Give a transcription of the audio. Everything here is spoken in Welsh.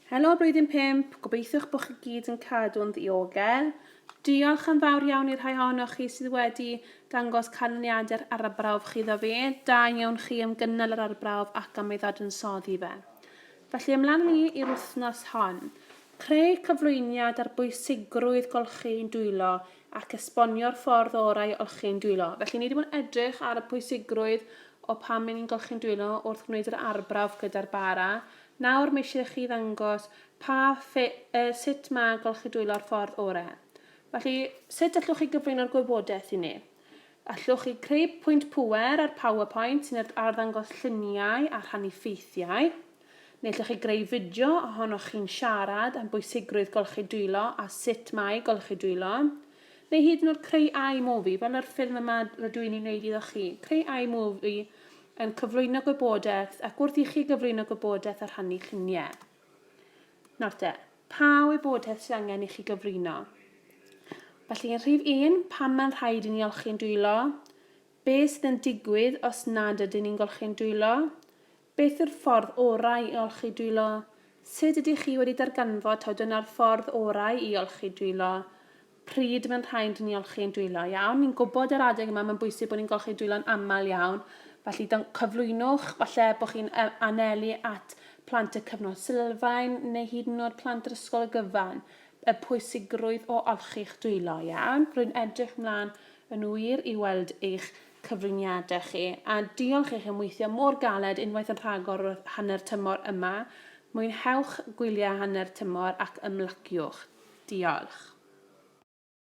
Helo Blwyddyn Pump, gobeithiwch bod chi gyd yn cadw'n ddiogel. Diolch yn fawr iawn i'r rhai ohonoch chi sydd wedi dangos canlyniadau'r arbrawf chi iddo fi. Da iawn chi am gynnal yr arbrawf ac am ei ddadansoddi fe. Felly ymlaen ni i'r wythnos hon. Creu cyflwyniad ar bwysigrwydd golchi'n dwylo ac esbonio'r ffordd orau i olchi'n dwylo. Felly, ni wedi bod yn edrych ar y pwysigrwydd o pam ry'n ni'n golchi'n dwylo wrth wneud yr arbrawf gyda'r bara. Nawr, mae eisiau i chi ddangos pa ffe- yy sut mae golchi dwylo ar ffordd orau. Felly, sut allwch chi gyflwyno'r gwybodaeth i ni? Allwch chi creu pwynt pŵer ar PowerPoint sy'n arddangos lluniau a rhannu ffeithiau? Neu allwch chi greu fideo ohonoch chi'n siarad am bwysigrwydd golchi dwylo a sut mae golchi dwylo. Neu hyd yn oed creu iMovie, fel yr ffilm yma rydw i'n ei wneud iddo chi. Creu iMovie yn cyflwyno gwybodaeth ac wrth i chi gyflwyno gwybodaeth a rhannu lluniau. Nawr te, pa wybodaeth sydd angen i chi gyflwyno? Felly yn rhif un, pam mae'n rhaid i ni olchi'n dwylo? Be sydd yn digwydd os nad ydyn ni'n golchi'n dwylo? Beth yw'r ffordd orau i olchi dwylo? Sut ydych chi wedi darganfod taw dyna'r ffordd orau i olchi dwylo? Pryd mae'n rhaid i ni olchi ein dwylo? Iawn, ni'n gwybod yr adeg yma mae'n bwysig bod ni'n golchi'n dwylo'n aml iawn, felly cyflwynwch, falle bod chi'n anelu at plant y cyfnod sylfaen neu hyd yn oed plant yr ysgol y gyfan, y pwysigrwydd o olchi'ch dwylo, iawn? Rwy'n edrych mlaen yn wir i weld eich cyfriniade chi, a diolch i chi am weithio mor galed unwaith yn rhagor wrth hanner tymor yma. Mwynhewch gwyliau hanner tymor ac ymlaciwch. Diolch.